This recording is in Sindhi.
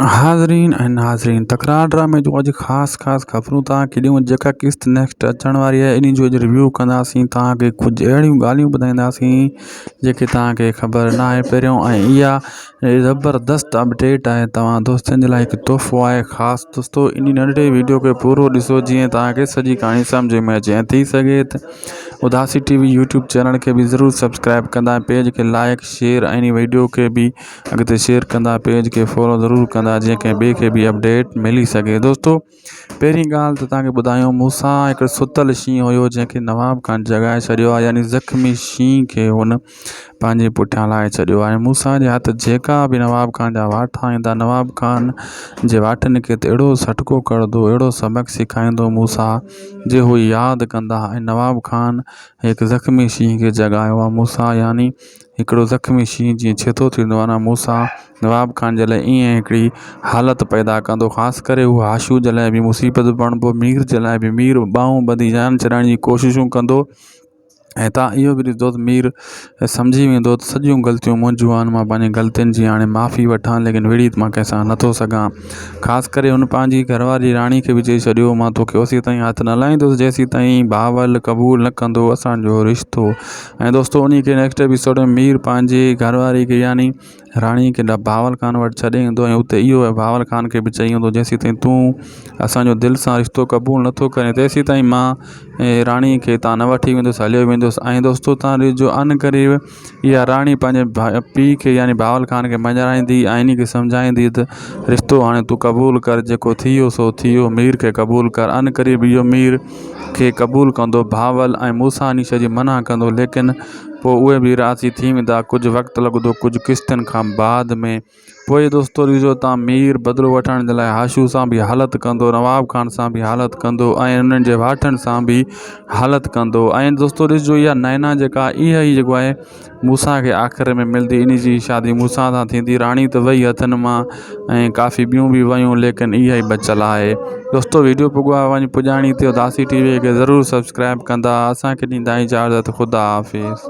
حاضرين ۽ ناظرين تڪرار ڊرامي جون اڄ خاص خاص خبرون تان کي ڏيون جيڪا قسط نيڪسٽ اچڻ واري آهي انهي جو اڄ ريويو ڪنداسين تان کي ڪجهه اهڙيون ڳالهيون ٻڌائينداسين جيڪي تان کي خبر نه آهي پهريون ۽ اها زبردست اپڊيٽ آهي توهان دوستن جي لاء هڪ تحفو آهي خاص دوستو انهي ننڍڙي ويڊيو کي پورو ڏسو جيئن تان کي سڄي ڪهاڻي سمجهه ۾ اچي ۽ ٿي سگهي ته اداسي ٽي وي يوٽيوب چينل کي به ضرور سبسڪرائب ڪندا ۽ پيج کي لائڪ شيئر ۽ انهي ويڊيو کي به اڳتي شيئر ڪندا پيج کي فالو ضرور ڪندا جيئن ڪنهن ٻئي کي به اپڊيٽ ملي سگهي دوستو پهرين ڳالهه ته تهانکي ٻڌايو مون سان هڪڙو ستل شينهن هيو جنهن کي نواب خان جڳائي ڇڏيو آهي يعني زخمي شينهن کي هن پنهنجي پٺيان لائي ڇڏيو آهي مون سان جي هٿ جيڪا به نواب خان جا واٺا ايندا نواب خان جي واٺن کي ته اهڙو سٽڪو ڪرندو اهڙو سبق سيکائيندو مون سان جي هو ياد ڪندا ۽ نواب خان هڪ زخمي شينهن کي جڳايو آهي مون سان يعني هڪڙو زخمي شينهن جيئن ڇيتو ٿيندو آهي نه موسيٰ نواب خان جي لاء ائين هڪڙي حالت پيدا ڪندو خاص ڪري هو هاشو جي لاء به مصيبت بڻبو مير جي لاء به مير ٻانهون ٻڌي جان ڇڏائڻ جي ڪوششون ڪندو ۽ تان اهو به ڏسندو ته مير سمجهي ويندو ته سڄيون غلطيون منهنجون آهن مان پنهنجي غلطين جي هاڻي معافي وٺان ليڪن وڙهي مان ڪنهن سان نٿو سگهان خاص ڪري هن پنهنجي گهر واري راڻي کي به چئي ڇڏيو مان توکي اوسيتائين هٿ نه لائيندس جيسيتائين بهاول قبول نه ڪندو اسان جو رشتو ۽ دوستو انهي کي نيڪسٽ ايپيسوڊ ۾ مير پنهنجي گهر واري کي يعني راڻي کي بهاول خان وٽ ڇڏي ايندو ۽ اتي اهو بهاول خان کي به چئي ايندو جيسين تائين تون اسانجو دل سان رشتو قبول نٿو ڪرين تيسين تائين مان راڻي کي تان نه وٺي ويندس هليو ويندس ۽ دوستو تان ڏسجو ان قريب اها راڻي پنهنجي ڀاء پي کي يعني بهاول خان کي مڃرائيندي ۽ انهي کي سمجهائيندي ته رشتو هاڻي تون قبول ڪر جيڪو ٿي ويو سو ٿي ويو مير کي قبول ڪر ان قريب اهو مير کي قبول ڪندو، بهاول ۽ موسيٰ نيشه جي منع ڪندو، ليڪن پوء اهي به راضي ٿي ويندا، ڪجهه وقت لڳندو، ڪجهه قسطن کان بعد ۾. پوء دوستوريزو تان مير بدلو وٺڻ جي لاء حاشو سان به حالت ڪندو، نواب خان سان به حالت ڪندو ۽ انهن جي واٺن سان به حالت ڪندو ۽ دوستوريزو يا نينا جيڪا اهي ئي جيڪو آهي موسيٰ کي آخر ۾ ملندي انهي جي شادي موسيٰ سان ٿيندي راڻي ته وئي هٿن مان ۽ ڪافي ٻيون به ويون ليڪن اها ئي بچيل آهي دوستو ويڊيو پڳو آهي وڃي پڄاڻي تي داسي ٽي وي کي ضرور سبسڪرائب ڪندا اسان کي ڏيندا اجازت خدا حافظ